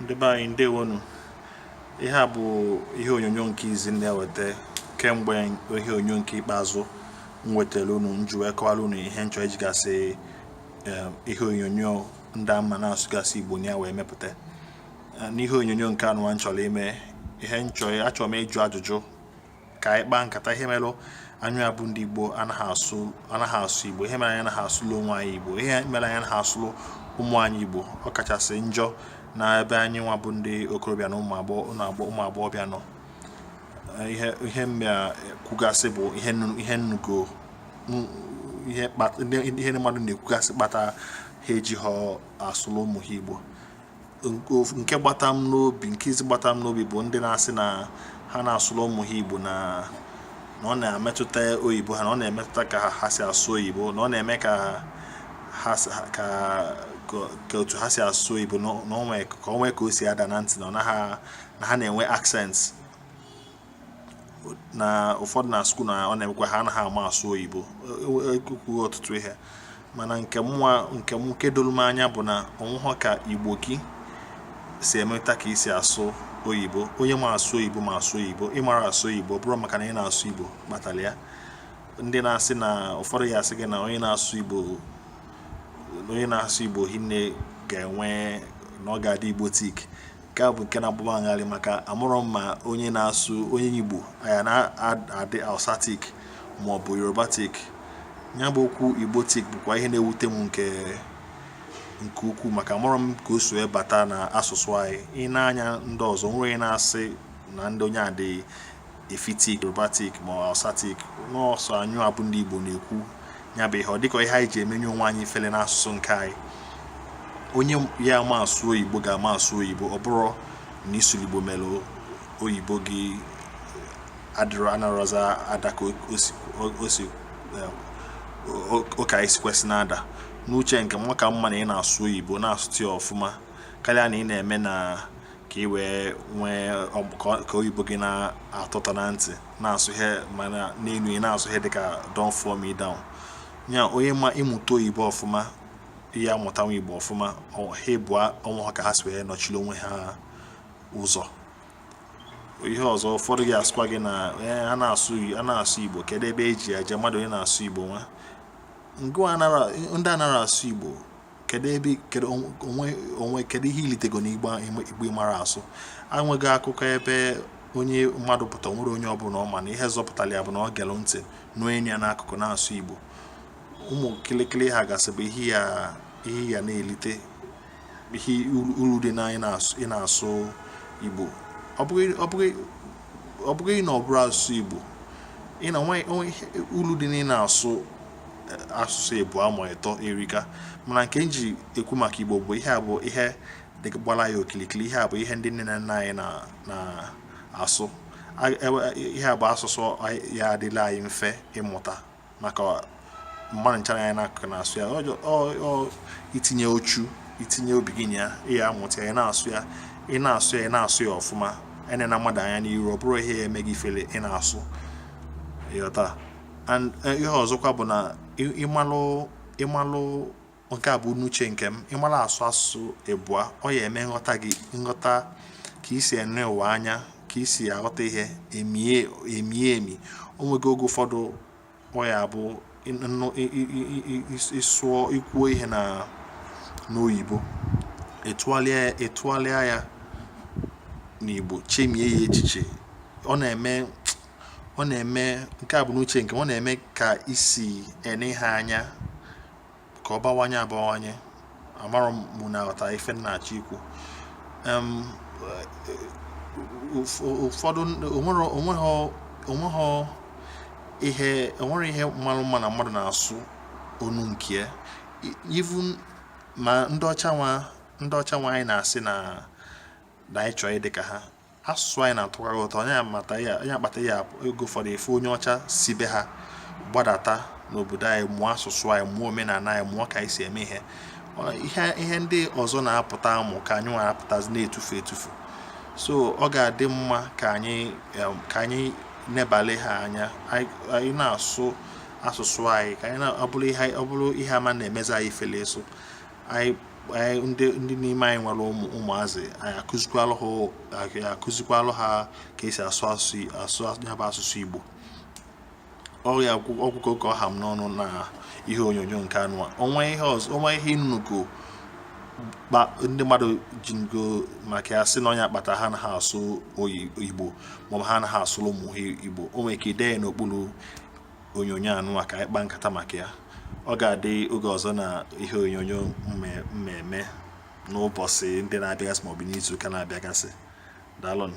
ndị be anyị ndewonu ihe a bụ ihe onyonyo nke izi m na-eweta kemgbe ihe onyonyo nke ikpeazụ m wetara unu m ji wee kọwara unu ihe m chọ iji gasị eh, ihe onyonyo ndị a m na-asụgasị igbo na ya wee mepụta eh, n'ihe onyonyo nke anụwa m chọrọ ime ihe m chọ achọrọ m ịjụ ajụjụ ka anyị kpaa nkata ihe mere anyịwa bụ ndị igbo anaghị asụ anaghị asụ igbo ihe mere anyị anaghị asụlụ onwe anyị igbo ihe mere anyị anaghị asụlụ ụmụ anyị igbo ọ kachasị njọ na ebe anyị nwa bụ ndị okorobịa na ụmụ agbọghọbịa nọ ihe ihe m ya-ekwugasị bụ ihe ihe m nụgo ihe ndị mmadụ na-ekwugasị kpata ha ejihọ asụlụ ụmụ ha igbo nke gbata m n'obi nke izi gbata m n'obi bụ ndị na-asị na ha na-asụrụ ụmụ ha igbo na na ọ na-emetụta oyibo ha na ọ na-emetụta ka ha si asụ oyibo na ọ na-eme ka ha ka ka otu ha si asụ oyibo ka o nwee ka o si ada na ntị na ọ na ha na-enwe accent na ụfọdụ na skuul na ọ na-emekwa ha anaghị ama asụ oyibo ekwughị e, e, e, ọtụtụ ihe mana nke mụwa nke m nke doro m anya bụ na o nwehọ ka igbo gị si emeta ka i si asụ oyibo onye ma asụ oyibo ma asụ oyibo ị marọ asụ oyibo ọ bụrọ maka na ị na-asụ igbo kpatara ya ndị na-asị na ụfọdụ ya-asị gị na onye na-asụ igbo onye na-asụ igbo hinne ga-enwe na ọ ga-adị igbotic nke a bụ nke na-agba m ngharị maka amarọ m ma onye na-asụ onye Igbo ọ ya na-adị Hausatic ma ọ bụ Yorubatic ya bụ okwu Igbotic bụkwa ihe na-ewute m nke nke ukwuu maka amarọ m ka o si wee bata na asụsụ anyị ị na-anụ ndị ọzọ nwere na-asị na ndị onye a dị efiktic yorubatic ma hausatic na ọ sọ anyịwa bụ ndị igbo na-ekwu ya bụ ihe ọ dịka ihe anyị ji emenye onwe anyị ifele n'asụsụ nke anyị onye ya-ama asụ oyibo ga-ama asụ oyibo ọ bụrụ na ị sụrụ igbo mere oyibo gị adịrọ anarọzị ada ka o si ka o si kwesị na-ada n'uche nke m ọ ka mma na ị na-asụ oyibo na-asụta ya ọfụma karịa na ị na-eme na ka ị wee nwee ka oyibo gị na-atọ ụtọ na ntị na-asụ ihe mana n'elu ị na-asụ ihe dịka don't fall me down ya onye ma ị mụta oyibo ọfụma ị ya-amụtakwa igbo ọfụma ha ịbụa o nwehọ ka ha si wee nọchiri onwe ha ụzọ ihe ọzọ ụfọdụ ga-asịkwa gị na a na-asụ igbo kedu ebe eji eje mmadụ onye na-asụ igbo nwa ndị anaghị asụ igbo kedu ebe kedu onwe onwe kedu ihe ilitego n'igbo igbo mara asụ enwego akụkọ ebe onye mmadụ pụta nwere onye ọbụla ọ ma na ihe zọpụtara ya bụ na o gelu ntị nụọ enyi ya n'akụkụ na-asụ igbo ụmụ kịlịkịlị ha gasị bụ ihe ya ihe ya na-elite ihe uru dị na ị na-asụ igbo ọ bụghị na ọ bụrụ asụsụ igbo ị na nwe uru dị na ị na-asụ asụsụ ịbụa ma ịtọ erika mana nke m ji ekwu maka igbo bụ ihe a bụ ihe gbara anyị okilikili ihe a bụ ihe ndị nne na nna anyị na-asụ ihe a bụ asụsụ ya adịlị anyị mfe ịmụta maka mmadụ ncha nọ anyị n'akụkụ na-asụ ya ọ itinye uchu itinye obi gị na ya ịya amụta ya ị na-asụ ya ị na-asụ ya ị na-asụ ya ọfụma enena mmadụ anya n'iru ọ bụrụ ihe ya eme gị ifere ị na-asụ ịghọta and eh, ihe ọzọkwa bụ na ịmalụ ịmalụ nke a bụ n'uche nke m ịmalụ asụ asụsụ ịbụa ọ ya eme nghọta gị nghọta ka isi ene ụwa anya ka isi aghọta ihe emie emie emi onwego oge ụfọdụ ọ ya bụ ịsụọ ikwuo ihe na n'oyibo ịtụgharịa ya ịtụgharịa ya n'igbo chemie ya echiche ọ na-eme ọ na-eme nke a bụ n'uche nke m ọ na-eme ka isi ene ihe anya ka ọ bawanye abawanye amara mụ na aghọta ife m na-achọ ikwu ụfọdụ onweghị ihe onwere ihe malụ mma na mmadụ na-asụ onu nke even ma ndị ọcha nwa ndị ọcha nwa anyị na-asị na anyị chọọ ịdị ka ha asụsụ anyị na-atọkarị ụtọ ọnya kpata ya ọnya kpata ya oge ụfọdụ ịfụ onye ọcha si be ha gbadata n'obodo anyị mụọ asụsụ anyị mụọ omenala anyị mụọ ka anyị si eme ihe ihe ndị ọzọ na-apụta amụ ka anyị nwa apụtazi na-etufu etufu so ọ ga-adị mma ka anyị ka anyị nebale ha anya anyị na-asụ asụsụ anyị ka anyị ọ bụrụ ihe ama na-emezi anyị ifele ịsụ anyị anyị ndị ndị n'ime anyị nwere ụmụ ụmụazị anyị akụzikwalụ ha anyị akụzikwalụ ha ka esi asụ asụ asụ ya bụ asụsụ Igbo ọrịa ọgwụ- ọgwụgo ka ọ ha m n'ọnụ na ihe onyonyo nke anụwa onwe ihe ọzọ onwe ihe unu nụgo ndị mmadụ ji ngo maka ya sị na ọnya kpata ha anaha asụ oyi- igbo maọbụ ha anaha asụrụ ụmụ ha igbo o nwere ike ide ya n'okpuru onyonyo anụwa ka anyị kpaa nkata maka ya ọ ga-adị oge ọzọ na ihe onyonyo m ya eme n'ụbọsị ndị na-abịagasị maọbụ n'izu ụka na-abịagasị daalụnụ